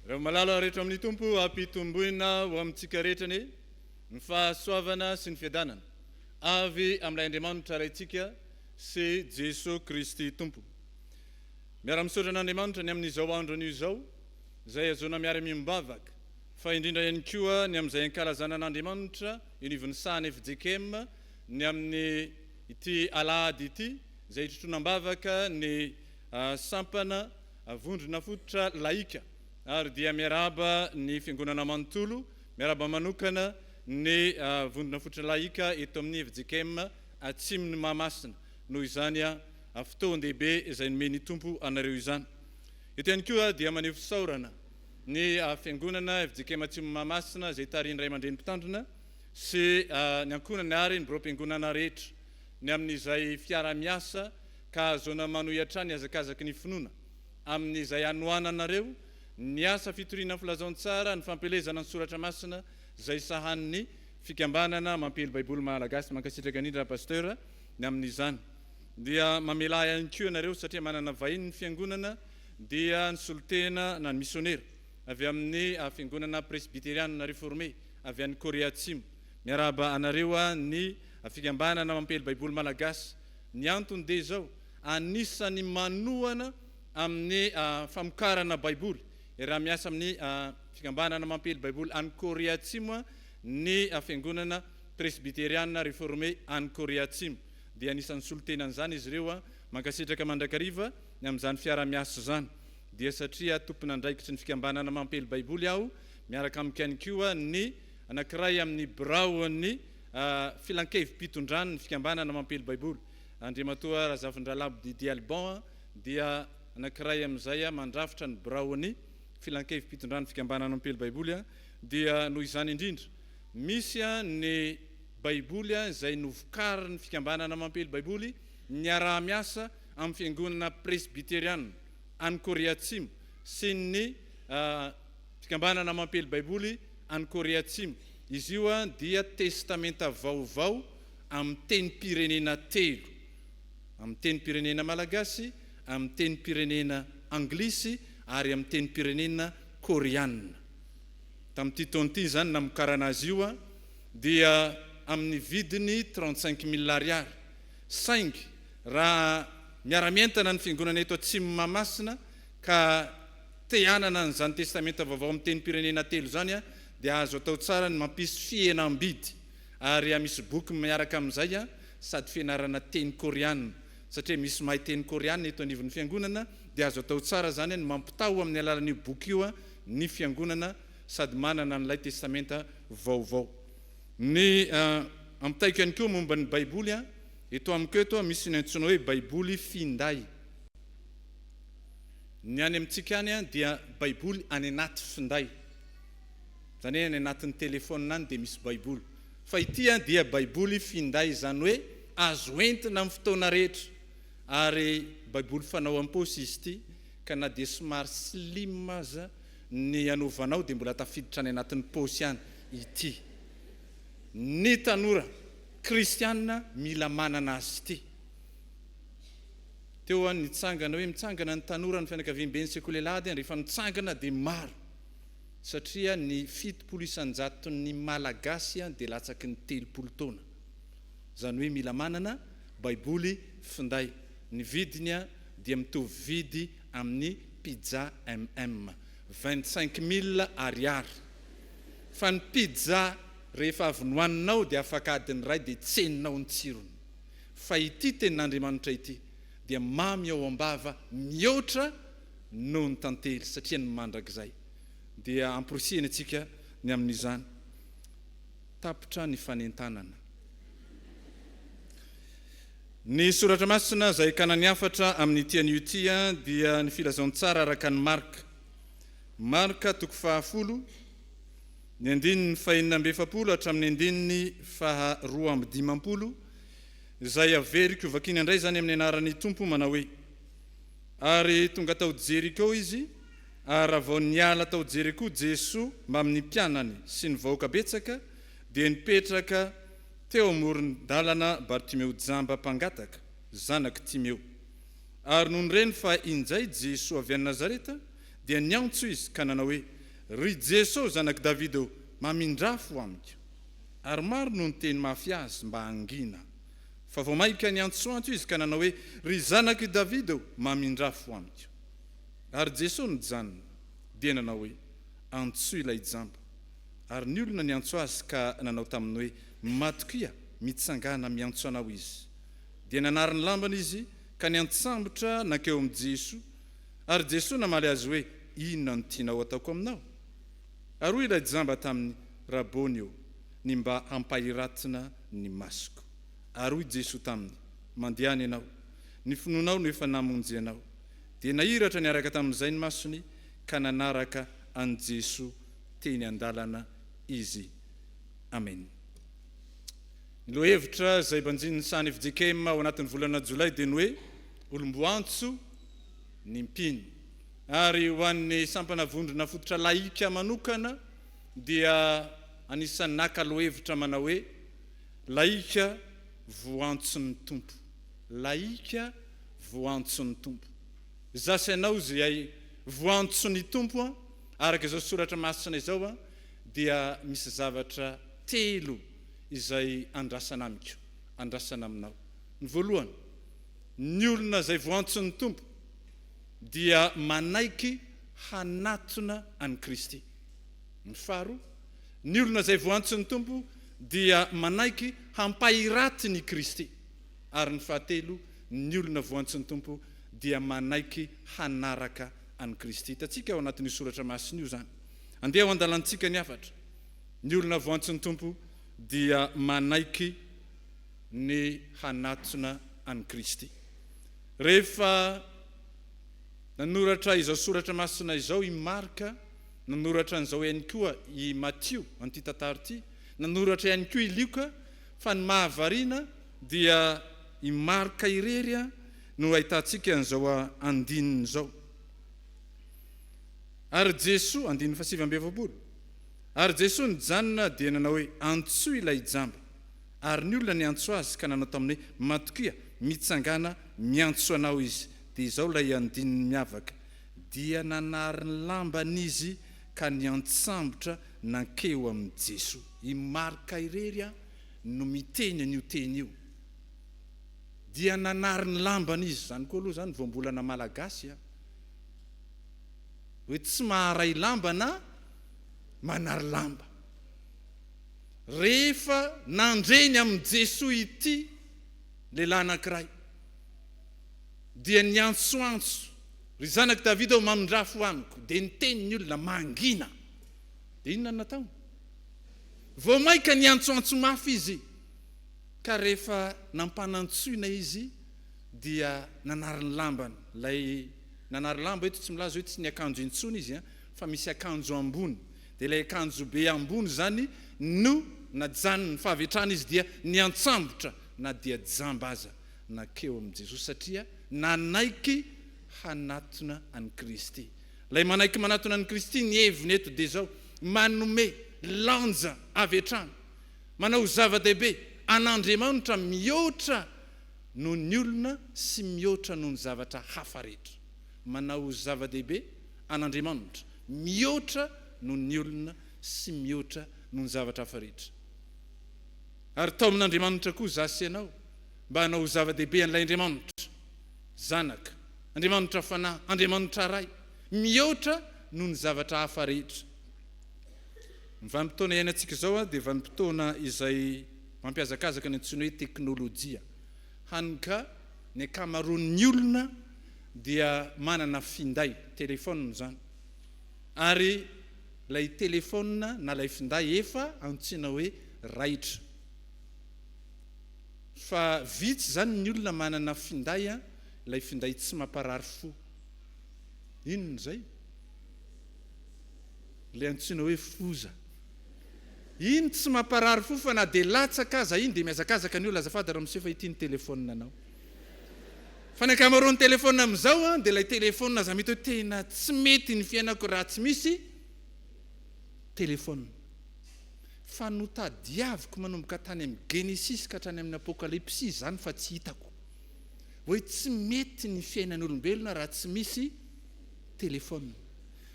Reo malala rehetra amin'ny Tompo ampitomboina ho amintsika rehetra anie ny fahasoavana sy ny fiadanana avy amin'ilay Andriamanitra Raintsika sy Jesoa Kristy Tompo. Miara-misaotra an'Andriamanitra ny amin'izao andron'io izao izay ahazoana miara-miombavaka fa indrindra ihany koa ny amin'izay ankalazana an'Andriamanitra eny ivon'ny sahan'ny fjkm ny amin'ny ity alahady ity izay hitrotroana am-bavaka ny sampana vondrona fototra lahika ary dia miarahaba ny fiangonana manontolo, miarahaba manokana ny vondrona fototra lahika eto amin'ny fjkm Atsimon'i Mahamasina noho izany fotoan-dehibe izay nomen'ny Tompo anareo izany. Eto ihany koa dia maneho fisaorana. ny Fiangonana fjkm Atsimo Mahamasina izay tarihin'ny Ray aman-dReny Mpitandrina sy ny ankohonany ary ny Biraom-piangonana rehetra ny amin'izay fiaraha-miasa ka ahazoana manohy hatrany ny hazakazaky ny finoana amin'izay hanohananareo ny asa fitoriana ny Filazantsara, ny fampielezana ny Soratra Masina izay sahanin'ny Fikambanana Mampiely Baiboly Malagasy. Mankasitraka indrindra Pasteur ny amin'izany. Dia mamelà ahy ihany koa ianareo satria manana vahiny ny Fiangonana dia nisolotena na ny misionera avy amin'ny Fiangonana Presbyteriana Reformée avy any Korea Atsimo. Miarahaba anareo ny Fikambanana Mampely Baiboly Malagasy. Ny antony dia izao, anisan'ny manohana amin'ny famokarana Baiboly raha miasa amin'ny Fikambanana Mampely Baiboly any Korea Atsimo ny Fiangonana Presbyteriana Reformée any Korea Atsimo. Dia anisan'ny solotena an'izany izy ireo. Mankasitraka mandrakariva. Ny amin'izany fiara-miasa izany, dia satria tompon'andraikitry ny fikambanana Mampely Baiboly aho, miaraka amiko ihany koa ny anankiray amin'ny biraon'ny Filan-kevi-pitondran'ny fikambanana Mampely Baiboly, Andriamatoa Razafindralabo Didier Alban, dia anankiray amin'izay mandrafitra ny biraon'ny Filan-kevi-pitondran'ny fikambanana Mampely Baiboly, dia noho izany indrindra, misy ny Baiboly izay novokarin'ny fikambanana Mampely Baiboly niaraha-miasa amin'ny Fiangonana Presbyteriana any Korea Atsimo sy ny Fikambanana Mampely Baiboly any Korea Atsimo. Izy io dia Testamenta Vaovao amin'ny tenim-pirenena telo, amin'ny tenim-pirenena malagasy, amin'ny tenim-pirenena anglisy ary amin'ny tenim-pirenena koreana. Tamin'ity taona ity izany namokarana azy io dia amin'ny vidiny trente-cinq mille ariary. Saingy raha miara-mientana ny Fiangonana eto Atsimo Mahamasina ka te hanana an'izany Testamenta Vaovao amin'ny tenim-pirenena telo izany dia azo atao tsara ny mampisy fihenam-bidy ary hamisy boky miaraka amin'izay sady fianarana teny Koreana satria misy mahay teny Koreana eto anivon'ny Fiangonana dia azo atao tsara izany ny mampitaho amin'ny alalan'io boky io ny Fiangonana sady manana an'ilay Testamenta Vaovao Ny ampitaiko ihany koa momba ny Baiboly, eto amiko eto misy ny antsoina hoe Baiboly finday. Ny any amintsika any dia Baiboly any anaty finday. Izany hoe any anatin'ny telefaonina any dia misy Baiboly. Fa ity dia Baiboly finday, izany hoe azo entina amin'ny fotoana rehetra. Ary Baiboly fanao am-paosy izy ity, ka na dia somary slim aza ny hanaovanao dia mbola tafiditra any anatin'ny paosy any. ity. Ny tanora kristiana mila manana azy ity. Teo an nitsangana hoe mitsangana ny tanora ny fianakaviamben'ny sekoly alahady an, rehefa mitsangana dia maro satria ny fitopolo isanjaton'ny malagasy an dia latsaky ny telopolo taona. Izany hoe mila manana baiboly finday. Ny vidiny an dia mitovy vidy amin'ny pizza MM. Vingt cinq mille ariary. fa ny pizza rehefa avy nohaninao dia afaka adiny iray dia tsy henonao ny tsirony, fa ity tenin'Andriamanitra ity dia mamy ao am-bava mihoatra noho ny tantely satria ny mandrakizay dia amporisihina antsika ny amin'izany tapitra ny fanentanana. Ny soratra masina izay kanan'ny hafatra amin'ity anio ity dia ny filazantsara araka an'i Marka. Marka toko fahafolo, ny andininy fahenina amby efapolo hatramin'ny andininy faha roa amby dimampolo, izay averiko hovakiana indray izany amin'ny anaran'ny Tompo, manao hoe, Ary tonga tao Jeriko izy, ary raha vao niala tao Jeriko Jesoa mbamin'ny mpianany sy ny vahoaka betsaka, dia nipetraka teo amoron-dalana Bartimeo jamba mpangataka, zanak'i Timeo. Ary nony reny fa injay Jesoa avy any Nazareta, Dia niantso izy ka nanao hoe, Ry Jeso zanak'i Davida ô, mamindrafo amiko. Ary maro no niteny mafy azy mba hangina. Fa vao mainka niantsoantso izy ka nanao hoe, Ry zanak'i Davida ô, mamindrafo amiko. Ary Jeso nijanona, dia nanao hoe, Antsoy ilay jamba. Ary ny olona niantso azy ka nanao taminy hoe, Matokia, mitsangàna miantso anao izy. Dia nanary ny lambany izy ka niantsambotra nankeo amin'i Jeso, Ary Jesoa namaly azy hoe, Inona no tianao ataoko aminao? Ary hoy ilay jamba taminy, Rabôny ô, ny mba hampahiratina ny masoko. Ary hoy Jesoa taminy, Mandehana ianao, ny finoanao no efa namonjy anao. Dia nahiratra niaraka tamin'izay ny masony, ka nanaraka an'i Jesoa teny an-dalana izy. Amen. Ny lohahevitra izay banjinin'ny sahan'ny FJKM ao anatin'ny volana Jolay dia ny hoe, Olom-boantso, ny mpino. Ary ho an'ny sampana Vondrona Fototra Lahika manokana dia anisan'ny naka lohahevitra manao hoe, Lahika voantson'ny Tompo. Lahika voantson'ny Tompo. Izaho sy ianao izay voantson'ny Tompo, araka izao soratra masina izao, dia misy zavatra telo izay andrasana amiko, andrasana aminao. Ny voalohany. Ny olona izay voantsin'ny Tompo dia manaiky hanatona an'i Kristy. Ny faharoa, ny olona izay voantsin'ny Tompo dia manaiky hampahiratiny i Kristy. Ary ny fahatelo, ny olona voantsin'ny Tompo dia manaiky hanaraka an'i Kristy. Hitantsika ao anatin'io soratra masina io izany. Andeha ho andalantsika ny hafatra. Ny olona voantsin'ny Tompo dia manaiky. ny hanatona an'i Kristy. Rehefa nanoratra izao soratra masina izao i Marka, nanoratra an'izao ihany koa i Matio, an'ity tantara ity, nanoratra ihany koa i Lioka, fa ny mahavariana dia i Marka irery no ahitantsika an'izao andininy izao. Ary Jesoa, andininy fahasivy amby efapolo, ary Jesoa nijanona dia nanao hoe, Antsoy ilay jamba. Ary ny olona niantso azy ka nanao taminy hoe, Matokia, mitsangàna, miantso anao izy. Dia izao ilay andininy miavaka, Dia nanary ny lambany izy ka niantsambotra nankeo amin'i Jesoa. I Marka irery no miteny an'io teny io, Dia nanary ny lambany izy. Izany koa aloha izany voambolana malagasy an! Hoe tsy maharay lamba na manary lamba. Rehefa nandre ny amin'i Jesoa ity lehilahy anankiray, dia niantsoantso, Ry zanak'i Davida ô, mamindrà fo amiko! Dia niteny ny olona, Mangina! Dia inona no nataony? Vao mainka niantsoantso mafy izy, ka rehefa nampanantsoina izy, dia nanary ny lambany. Ilay nanary lamba eto tsy milaza hoe tsy niakanjo intsony izy, fa misy akanjo ambony. Dia ilay akanjobe ambony izany no najanony, fa avy hatrany izy dia niantsambotra na dia jamba aza nankeo amin'i Jesosy, satria nanaiky hanatona an'i Kristy. Ilay manaiky manatona an'i Kristy ny heviny eto dia izao, manome lanja avy hatrany, manao zava-dehibe an'Andriamanitra mihoatra noho ny olona sy mihoatra noho ny zavatra hafa rehetra. Manao zava-dehibe an'Andriamanitra mihoatra noho ny olona sy mihoatra noho ny zavatra hafa rehetra. Ary tao amin'Andriamanitra koa izaho sy ianao mba hanao ho zava-dehibe an'ilay Andriamanitra Zanaka, Andriamanitra Fanahy, Andriamanitra Ray, mihoatra noho ny zavatra hafa rehetra. Ny vanim-potoana iainantsika izao dia vanim-potoana izay mampiazakazaka ny antsoina hoe teknolojia, hany ka ny ankamaroan'ny olona dia manana finday, téléphone, izany ary ilay téléphone na ilay finday efa antsoina hoe raitra fa vitsy izany ny olona manana finday an, ilay finday tsy mamparary fo, inona izay? ilay antsoina hoe foza, iny tsy mamparary fo fa na dia latsaka aza iny dia mihazakazaka ny olona, azafady ramose fa ity ny téléphone-nao. Fa ny ankamaroan'ny téléphone amin'izao an dia ilay téléphone aza mety hoe tena tsy mety ny fiainako raha tsy misy téléphone. Fa notadiaviko manomboka tany amin'ny Genesisy ka hatrany amin'ny Apokalypsy izany fa tsy hitako hoe tsy mety ny fiainan'ny olombelona raha tsy misy téléphone.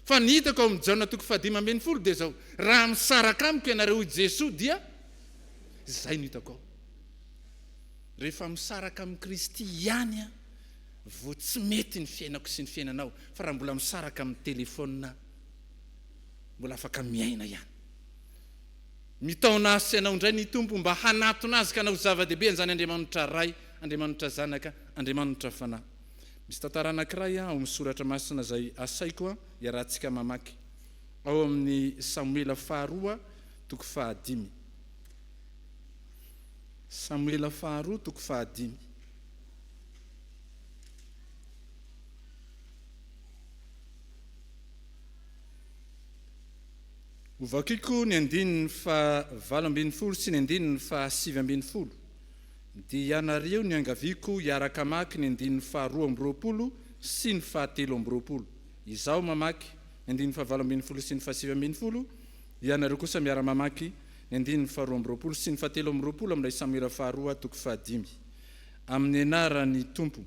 Fa ny hitako ao amin'ny Jaona toko fahadimy ambin'ny folo dia izao, raha misaraka amiko ianareo hoy Jesoa dia, izay no hitako ao. Rehefa misaraka amin'i Kristy ihany aho vao tsy mety ny fiainako sy ny fiainanao, fa raha mbola misaraka amin'ny telefaonina mbola afaka miaina ihany. Mitaona ahy sy anao indray ny Tompo mba hanatona Azy ka hanao zava-dehibe an'izany Andriamanitra Ray, Andriamanitra Zanaka, Andriamanitra Fanahy. Misy tantara anankiray ao amin'ny soratra masina izay asaiko hiarahantsika mamaky, ao amin'ny Samoela Faharoa toko fahadimy. Samoela Faharoa toko fahadimy. Hovakiko ny andininy fahavalo ambin'ny folo sy ny andininy fahasivy ambin'ny folo, dia ianareo niangaviako hiaraka hamaky ny andininy faharoa amby roapolo sy ny fahatelo amby roapolo. Izaho mamaky ny andininy fahavalo ambin'ny folo sy ny fahasivy ambin'ny folo, ianareo kosa miara-mamaky Ny andininy faharoa amby roapolo sy ny fahatelo amby roapolo amin'ilay Samoela faharoa toko fahadimy. Amin'ny anaran'ny Tompo.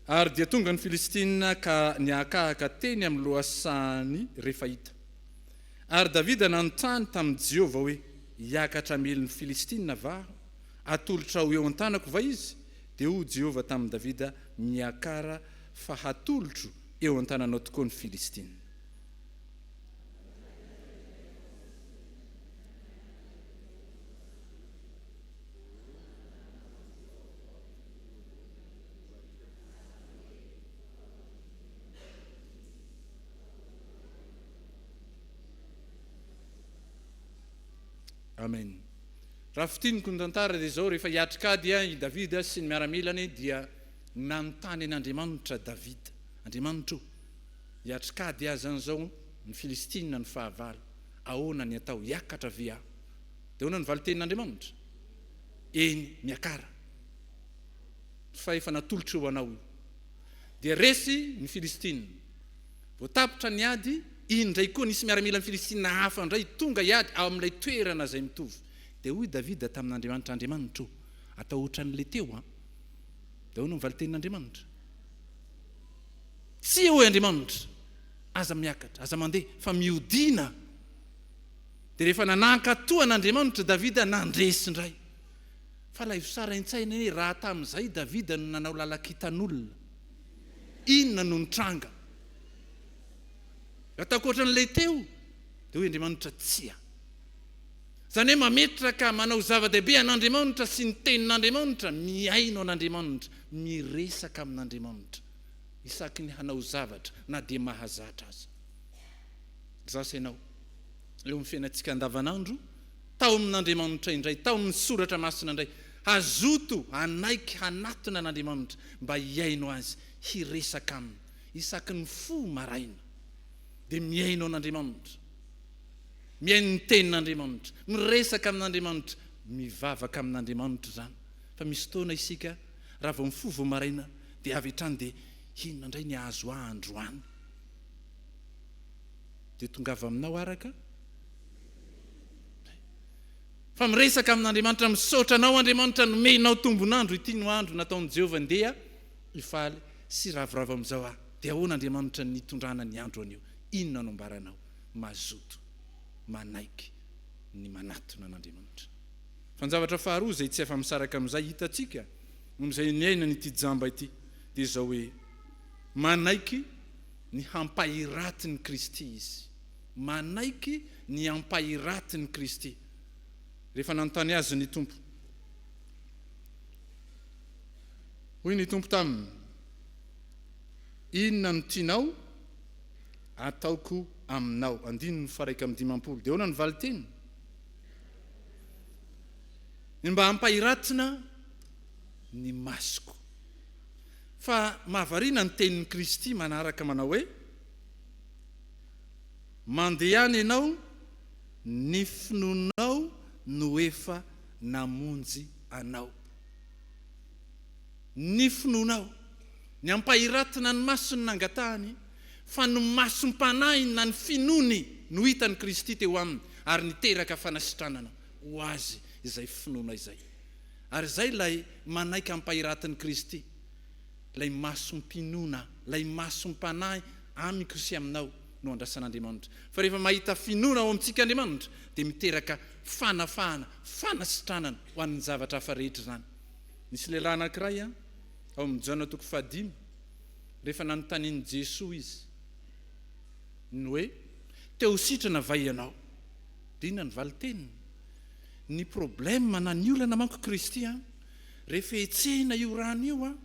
Ary dia tonga ny Filistina ka niakahaka teny amin'ny lohasahan'i Refaita. Ary Davida nanontany tamin'i Jehovah hoe, Hiakatra hamely ny Filistina va aho? Atolotra ho eo an-tanako va izy? Dia hoy Jehovah tamin'i Davida, Miakara, fa hatolotro eo an-tananao tokoa ny Filistina. Amen. Raha fitiniko ny tantara dia izao, rehefa hiatrikady i Davida sy ny miaramilany dia nanontany an'Andriamanitra Davida, Andriamanitro, Hiatrik'ady aza an'izao ny Filistina ny fahavalo, ahoana ny atao? Hiakatra ve aho? Dia ahoana ny valin-tenin'Andriamanitra? Eny, miakara! Fa efa natolotr'Io anao Io. Dia resy ny Filistina. Vao tapitra ny ady, iny indray koa nisy miaramilan'ny Filistina hafa indray tonga hiady ao amin'ilay toerana izay mitovy. Dia hoy Davida tamin'Andriamanitra, Andriamanitra ô, atao hoatran'ilay teo an! Dia ahoana ny valin-tenin'Andriamanitra? Tsia, hoy Andriamanitra, aza miakatra, aza mandeha, fa mihodina. Dia rehefa nanankato an'Andriamanitra Davida, nandresy indray. Fa alaivo sara an-tsaina hoe raha tamin'izay Davida no nanao lalan-kitan'olona, inona no nitranga? Raha takoatra an'ilay teo, dia hoy Andriamanitra, Tsia. Izany hoe mametraka, manao zava-dehibe an'Andriamaonitra sy ny Tenin'Andriamaonitra, mihaino an'Andriamaonitra, miresaka amin'Andriamaonitra isaky ny hanao zavatra na dia mahazatra aza. Izaho sy ianao, eo amin'ny fiainantsika andavanandro, tao amin'Andriamaonitra indray, tao amin'ny Soratra Masina indray, hazoto hanaiky hanatona an'Andriamaonitra mba hihaino Azy, hiresaka Aminy isaky ny fo maraina. Dia mihaino an'Andriamaonitra. Mihaino ny Tenin'Andriamanitra, miresaka amin'Andriamanitra, mivavaka amin'Andriamanitra izany. Fa misy fotoana isika raha vao mifoha vao maraina dia avy hatrany dia inona indray ny hahazo ahy androany? Dia tongava aminao araka izay. Fa miresaka amin'Andriamanitra, misaotra anao Andriamanitra nomenao tombon'andro, ity no andro nataon'i Jehovah, ndeha hifaly sy hiravoravo amin'izao aho. Dia ahoana Andriamanitra ny hitondrana ny andro anio? Inona no ambaranao? mazoto manaiky ny manatona an'Andriamanitra. Fa ny zavatra faharoa izay tsy afa-misaraka amin'izay hitantsika amin'izay niainan'ity jamba ity dia izao hoe, manaiky ny hampahiratin'i Kristy izy. Manaiky ny hampahiratin'i Kristy. Rehefa nanontany azy ny Tompo. Hoy ny Tompo taminy, Inona no tianao? ataoko aminao. Andininy faraika amby dimampolo dia ahoana ny valin-teny? Ny mba hampahiratina ny masoko. Fa mahavariana ny tenin'i Kristy manaraka manao hoe, Mandehana ianao, ny finoanao no efa namonjy anao. Ny finoanao. Ny hampahiratina ny maso no nangatahany. Fa ny masom-panahiny na ny finoany no hitan'i Kristy teo aminy ary niteraka fanasitranana ho azy izay finoana izay. Ary izay ilay manaiky ampahiratin'i Kristy, ilay masom-pinoana, ilay masom-panahy amiko sy aminao no andrasan'Andriamanitra. Fa rehefa mahita finoana ao amintsika Andriamanitra dia miteraka fanafahana, fanasitranana ho an'ny zavatra hafa rehetra izany. Nisy lehilahy anankiray ao amin'ny Jaona toko fahadimy. Rehefa nanontanian'i Jesoa izy ny hoe, Te ho sitrana va ianao? Dia inona ny valin-teniny? Ny problème na ny olana manko Kristy an! Rehefa hetsehina io rano io an!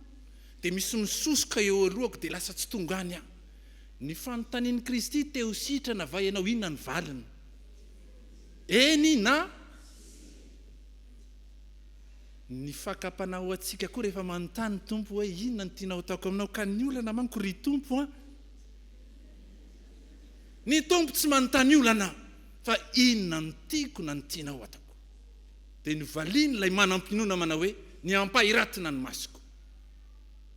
Dia misy misosoka eo alohako dia lasa tsy tonga any aho. Ny fanontanian'i Kristy, Te ho sitrana va ianao? Inona ny valiny? Eny na. Ny fakam-panahy ho antsika koa rehefa manontany ny Tompo hoe inona no tianao hataoko aminao ka ny olana manko ry Tompo a! Ny Tompo tsy manontany olana fa inona no tiako na ny tianao hataoko. Dia novaliany ilay manam-pinoana manao hoe ny ampahiratona ny masoko.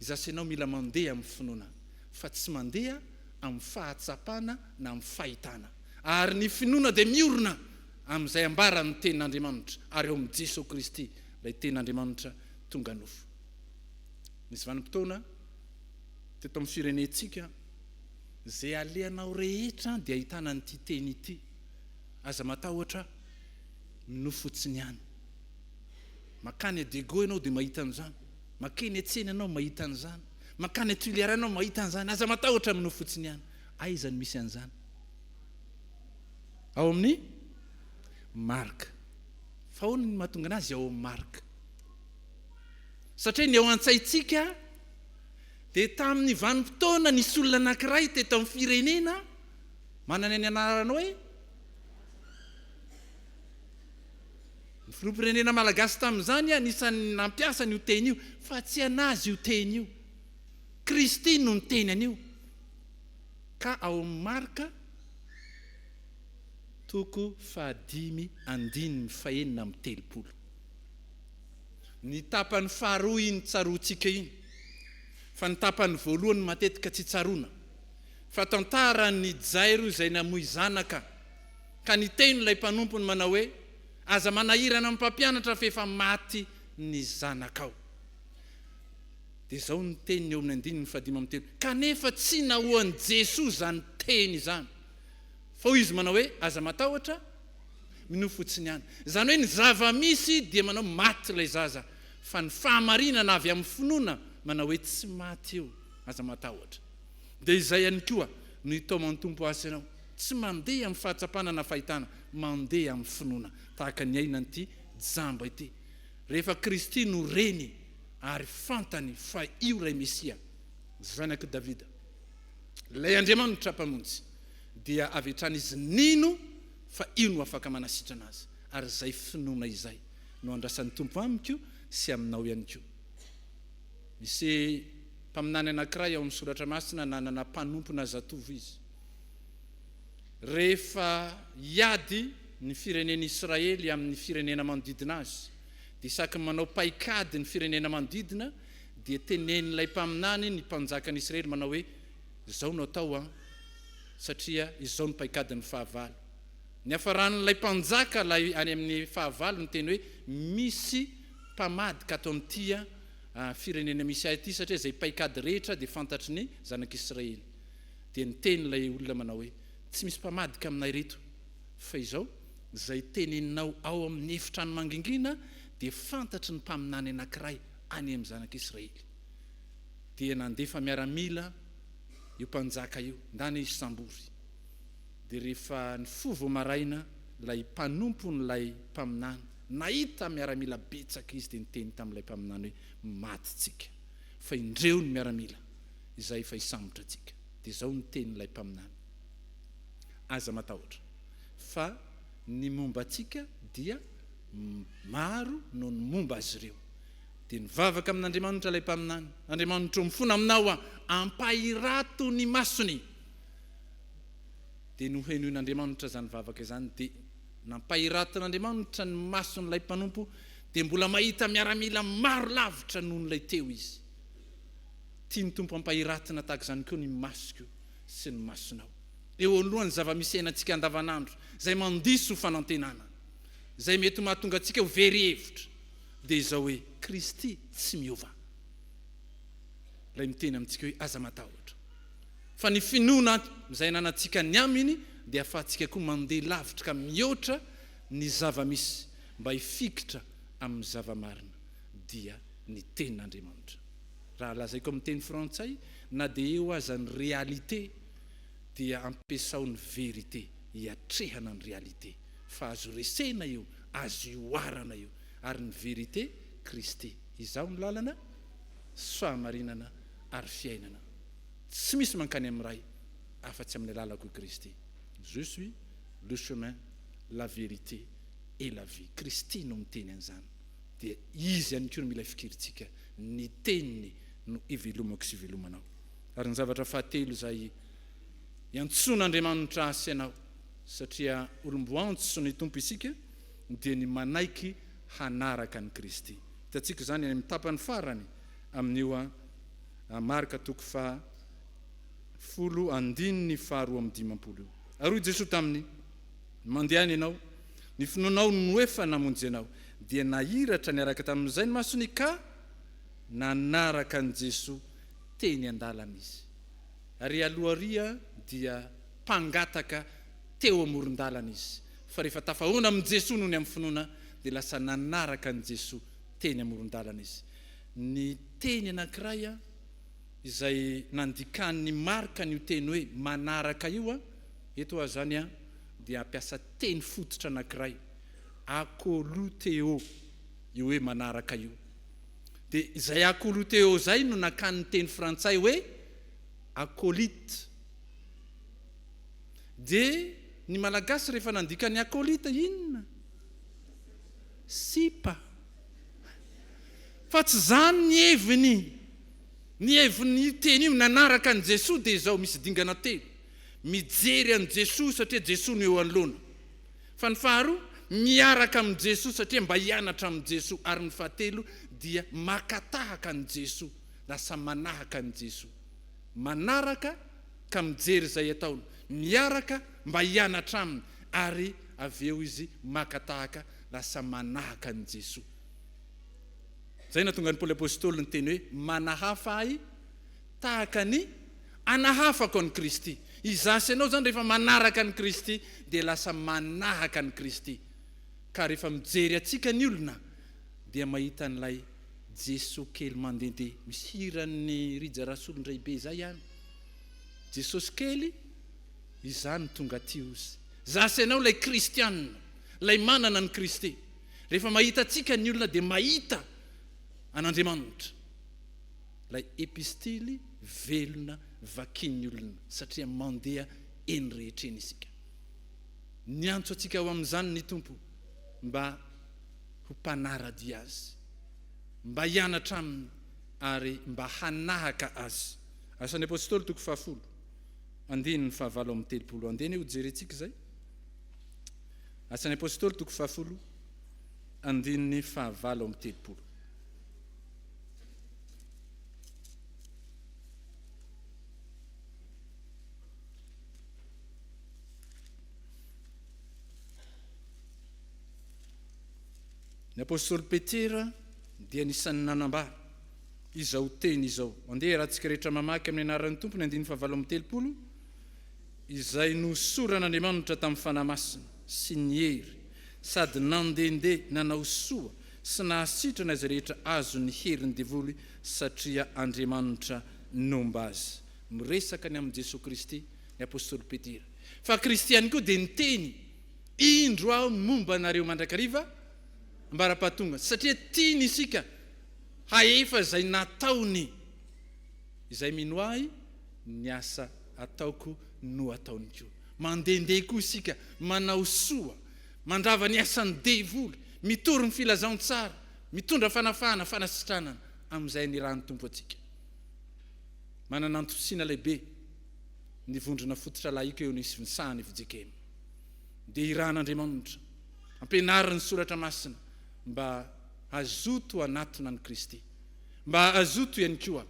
Izaho sy ianao mila mandeha amin'ny finoana fa tsy mandeha amin'ny fahatsapana na amin'ny fahitana ary ny finoana dia miorina amin'izay ambaran'ny Tenin'Andriamanitra, ary ao amin'i Jesoa Kristy, ilay Tenin'Andriamanitra tonga nofo. Nisy vanim-potoana teto amin'ny firenentsika, izay alehanao rehetra dia ahitana an'ity teny ity, aza matahotra ny nofo fotsiny ihany. Mankany à Diego ianao dia mahita an'izany, mankeny an-tsena ianao mahita an'izany, mankany à Tuliara ianao mahita an'izany, aza matahotra amin'ny nofo fotsiny ihany. Aiza no misy an'izany? Ao amin'ny Marka. Fa ahoana no mahatonga anazy ao amin'ny Marka? Satria ny ao an-tsaintsika dia tamin'ny vanim-potoana nisy olona anankiray teto amin'ny firenena manana ny anarana hoe Ny filoham-pirenena malagasy tamin'izany anisan'ny nampiasa an'io teny io fa tsy anazy io teny io. Kristy no niteny an'io. Ka ao amin'ny Marka toko fahadimy andininy fahenina amby telopolo, ny tapany faharoa iny tsaroantsika iny, fa ny tapany voalohany matetika tsy tsaroana, fa tantaran'i Jairo izay namoy zanaka, ka niteny ilay mpanompony manao hoe, Aza manahirana mpampianatra fa efa maty ny zanakao. Dia izao ny teniny eo amin'ny andininy fahadimy amby telo, Kanefa tsy nahoan'i Jesoa izany teny izany, fa hoy Izy manao hoe, Aza matahotra, minoa fotsiny ihany. Izany hoe ny zava-misy dia manao maty ilay zaza, fa ny fahamarinana avy amin'ny finoana manao hoe tsy maty io, aza matahotra. Dia izay ihany koa no hitaoman'ny Tompo azy sy ianao, tsy mandeha amin'ny fahatsapana na fahitana, mandeha amin'ny finoana, tahaka ny aina an'ity jamba ity. Rehefa Kristy no Reny, ary fantany fa io ilay Mesia, Zanak'i Davida. Ilay Andriamanitra Mpamonjy dia avy hatrany izy nino fa io no afaka manasitrana azy, ary izay finoana izay no andrasan'ny Tompo amiko sy aminao ihany koa. Nisy mpaminany anankiray ao amin'ny Soratra Masina nanana mpanompona zatovo izy. Rehefa hiady ny firenen'Israely amin'ny firenena manodidina azy, dia isaky ny manao paikady ny firenena manodidina dia tenenin'ilay mpaminany ny mpanjakan'i Israely manao hoe, Izao no atao an! satria izao no paikadin'ny fahavalo. Niafaran'ilay mpanjaka ilay any amin'ny fahavalo niteny hoe, Misy mpamadika ato amin'ity firenena misy ahy ity, satria izay paikady rehetra dia fantatry ny zanak'Israely. Dia niteny ilay olona manao hoe, Tsy misy mpamadika aminay ireto, fa izao, Izay teneninao ao amin' ny efitrano mangingina dia fantatry ny mpaminany anankiray any amin' ny Zanak' Israely. Dia nandefa miaramila io mpanjaka io, ndany hisambory. Dia rehefa nifoha vao maraina ilay mpanompon' ilay mpaminany, nahita miaramila betsaka izy, dia niteny tamin' ilay mpaminany hoe, Maty tsika, fa indreo ny miaramila izay efa hisambotra antsika. Dia izao no tenin' ilay mpaminany, Aza matahotra. fa ny momba antsika dia maro noho ny momba azy ireo. Dia nivavaka amin'Andriamanitra ilay mpaminany, Andriamanitro, mifona aminao aho, ampahirato ny masony. Dia nohenoin'Andriamanitra izany vavaka izany, dia nampahiratin'Andriamanitra ny mason'ilay mpanompo, dia mbola mahita miaramila maro lavitra noho ilay teo izy. Tian'ny Tompo hampahiratina tahaka izany koa ny masoko sy ny masonao. eo anoloan'ny zava-misy iainantsika andavanandro izay mandiso fanantenana, izay mety mahatonga antsika ho very hevitra, dia izao hoe, Kristy tsy miova. Ilay miteny amintsika hoe, Aza matahotra, fa ny finoana izay ananantsika ny Aminy dia ahafahantsika koa mandeha lavitra ka mihoatra ny zava-misy mba hifikitra amin'ny zava-marina, dia ny Tenin'Andriamanitra. Raha lazaiko amin'ny teny frantsay, na dia eo aza ny réalité, dia ampiasao ny vérité hiatrehana ny réalité fa azo resena io, azo ihoarana io ary ny vérité Kristy izaho ny lalana sy fahamarinana ary fiainana tsy misy mankany amin'ny Ray afa-tsy amin'ny alalako i Kristy je suis le chemin la vérité et la vie Kristy no miteny an'izany dia Izy ihany koa no mila fikirintsika ny teniny no ivelomako sy ivelomanao. Ary ny zavatra fahatelo izay iantsoan'Andriamanitra ahy sy ianao, satria olom-boantso ny Tompo isika, dia ny manaiky hanaraka an'i Kristy. Hitantsika izany any amin'ny tapany farany amin'io Marka toko faha folo andininy faha roa amby dimampolo io. Ary hoy Jesoa taminy, Mandehana ianao, ny finoanao no efa namonjy anao. Dia nahiratra niaraka tamin'izay ny masony ka nanaraka an'i Jesoa. teny an-dalana izy, ary alohariha dia mpangataka teo amoron-dalana izy, fa rehefa tafahoana amin'i Jesoa noho ny amin'ny finoana, dia lasa nanaraka an'i Jesoa teny amoron-dalana izy. Ny teny anankiray izay nandikan'i Marka an'io teny hoe manaraka io, eto ary izany dia ampiasa teny fototra anankiray, a ko lu the'o, io hoe manaraka io. Dia izay acolyte eo izay no nakany ny teny frantsay hoe acolyte. Dia ny Malagasy rehefa nandika ny acolyte inona? Sipa. Fa tsy izany ny heviny. Ny hevin'io teny io, nanaraka an'i Jesoa dia izao, misy dingana telo. Mijery an'i Jesoa satria Jesoa no eo anoloana. Fa ny faharoa, miaraka amin'i Jesoa, satria mba hianatra amin'i Jesoa. Ary ny fahatelo dia maka tahaka an'i Jesoa, lasa manahaka an'i Jesoa. Manaraka ka mijery izay ataony, miaraka mba hianatra aminy, ary avy eo izy maka tahaka, lasa manahaka an'i Jesoa. Izay nahatonga an'i Paoly Apostoly niteny hoe, Manahafa ahy Tahaka ny, Anahafako an'i Kristy. Izaho sy ianao izany rehefa manaraka an'i Kristy dia lasa manahaka an'i Kristy. Ka rehefa mijery antsika ny olona dia mahita an'ilay Jesoa kely mandehandeha, misy hiran'i Rija Rasolondraibe izay ihany, Jesosy kely, izaho no tonga aty ozy. Izaho sy ianao ilay kristiana, ilay manana an'i Kristy. Rehefa mahita antsika ny olona dia mahita an'Andriamanitra. Ilay epistily velona vakian'ny olona, satria mandeha eny rehetra eny isika. Niantso antsika ho amin'izany ny Tompo, mba ho mpanara-dia Azy, mba hianatra Aminy ary mba hanahaka Azy. Asan'ny Apôstôly, toko fahafolo, andininy fahavalo amby telopolo. Andeha anie hojerentsika izay. Asan'ny Apôstôly, toko fahafolo, andininy fahavalo amby telopolo. Ny apostoly Petera dia nisan'ny nanambara izao teny izao. Andeha iarahantsika rehetra mamaky amin'ny anaran'ny Tompo ny andininy fahavalo amby telopolo izay nosoran'Andriamanitra tamin'ny fanahy masina sy ny hery sady nandehandeha nanao soa Tsy nahasitrana izay rehetra azon'ny herin'ny devoly satria Andriamanitra nomba azy. Miresaka ny amin'i Jesoa Kristy ny apostoly Petera fa Kristy ihany koa dia niteny, Indro aho ny momba anareo mandrakariva ambara-pahatonga, satria tiany isika hahefa izay nataony. Izay mino ahy, ny asa ataoko no ataony koa. Mandehandeha koa isika manao soa Mandrava ny asan'ny devoly, mitory ny filazantsara, mitondra fanafahana, fanasitranana amin'izay nirahan'ny Tompo antsika. Manana antontosiana lehibe ny vondrona fototra lahika eo anisontsahan'ny fjkm. Dia irahan'Andriamanitra, ampianarin'ny Soratra Masina mba hazoto hanatona an'i Kristy, mba hazoto ihany koa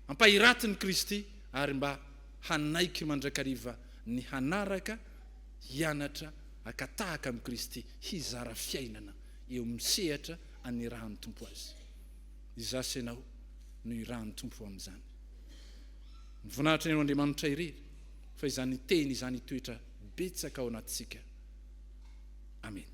hampahiratin'i Kristy ary mba hanaiky mandrakariva ny hanaraka hianatra haka tahaka amin'i Kristy, hizara fiainana eo amin'ny sehatra anirahan'ny Tompo azy. Izaho sy ianao no irahan'ny Tompo ho amin'izany. Ny voninahitra ny ho an'Andriamanitra irery, fa izany Teny izany hitoetra betsaka ao anatintsika. Amena.